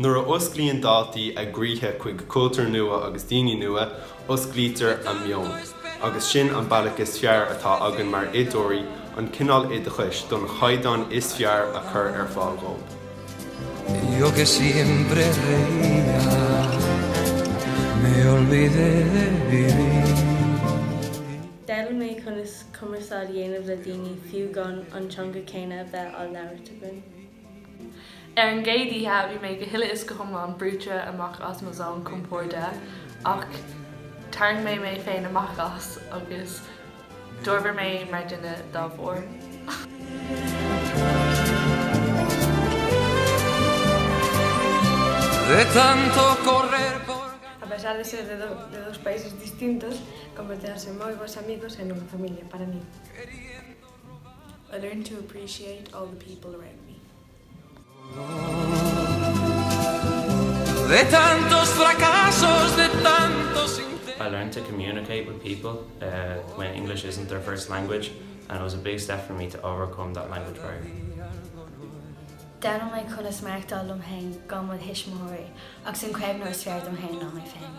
Nuair a osclaíonn daltaí a gcroíthe chuig cultúr nua agus daoine nua, osclaítear a meon. Agus sin an bealach is fearr atá againn mar oideoirí, an cineál oideachais don chaighdeán is fearr a chur ar fáil dhóibh. D'fhoghlaim mé conas cumarsáid a dhéanamh le daoine fiú gan an teanga céanna a bheith á labhairt againn. Ar an gcéad oíche bhí mé go huile is go hiomlán brúite amach as mo zón compoirde ach tharraing mé mé féin amach as agus d'fhorbair mé mar duine dá bharr. I learned to appreciate all the people around me. I learned to communicate with people when English isn't their first language and it was a big step for me to overcome that language barrier. D'fhoghlaim mé conas maireachtáil liom féin gan mo thuismitheoirí agus an caomhnóir is fearr dom féin ná mé féin.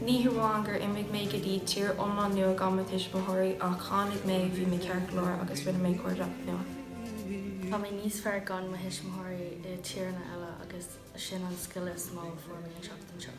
Ní hamháin gur imigh mé go dtí tír iomlán nua gan mo thuismitheoirí, ach tháinig mé, bhí mé ceart leor agus rinne mé cairdeacht nua. Tá mé níos fearr gan mo thuismitheoirí i tíreanna eile agus sin an scil is mó a fuair mé an seachtain seo.